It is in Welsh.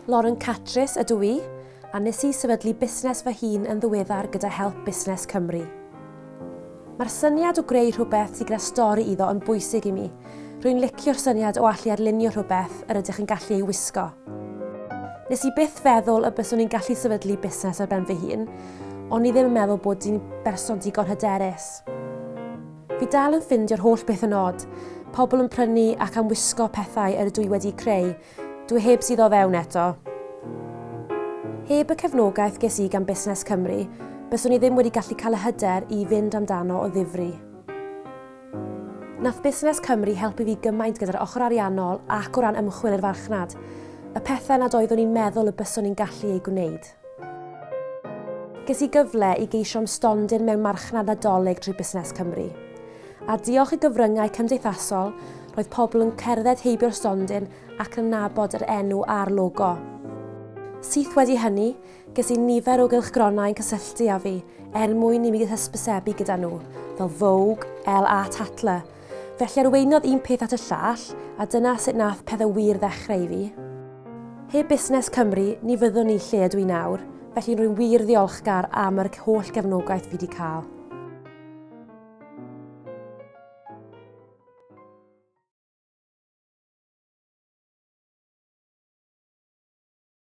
Lauren Catris ydw i, a nes i sefydlu busnes fy hun yn ddiweddar gyda help Busnes Cymru. Mae'r syniad o greu rhywbeth sy'n gyda stori iddo yn bwysig i mi. Rwy'n licio'r syniad o allu arlunio rhywbeth yr ydych yn gallu ei wisgo. Nes i byth feddwl y byswn i'n gallu sefydlu busnes ar ben fy hun, ond i ddim yn meddwl bod di'n berson digon hyderus. Fi dal yn ffindio'r holl beth yn od. Pobl yn prynu ac am wisgo pethau yr ydw i wedi'u creu. Dw i heb suddo fewn eto. Heb y cefnogaeth ges i gan Busnes Cymru, byswn i ddim wedi gallu cael y hyder i fynd amdano o ddifri. Nath Busnes Cymru helpu fi gymaint gyda'r ochr ariannol ac o ran ymchwil i'r farchnad. Y pethau nad oeddwn i'n meddwl y byswn i'n gallu eu gwneud. Ges i gyfle i geisio am stondin mewn Marchnad Nadolig drwy Busnes Cymru. A diolch i gyfryngau cymdeithasol, roedd pobl yn cerdded heibio'r stondin ac yn nabod yr enw a'r logo. Syth wedi hynny, ges i nifer o gylchgronau yn cysylltu â fi er mwyn i mi hysbysebu gyda nhw, fel Vogue, Elle a Tatler, Felly arweiniodd un peth at y llall, a dyna sut nath pethe wir ddechreu i fi. Heb Busnes Cymru, ni fyddwn i lle ydw i nawr, felly rwy'n wir ddiolchgar am yr holl gefnogaeth fi 'di cael.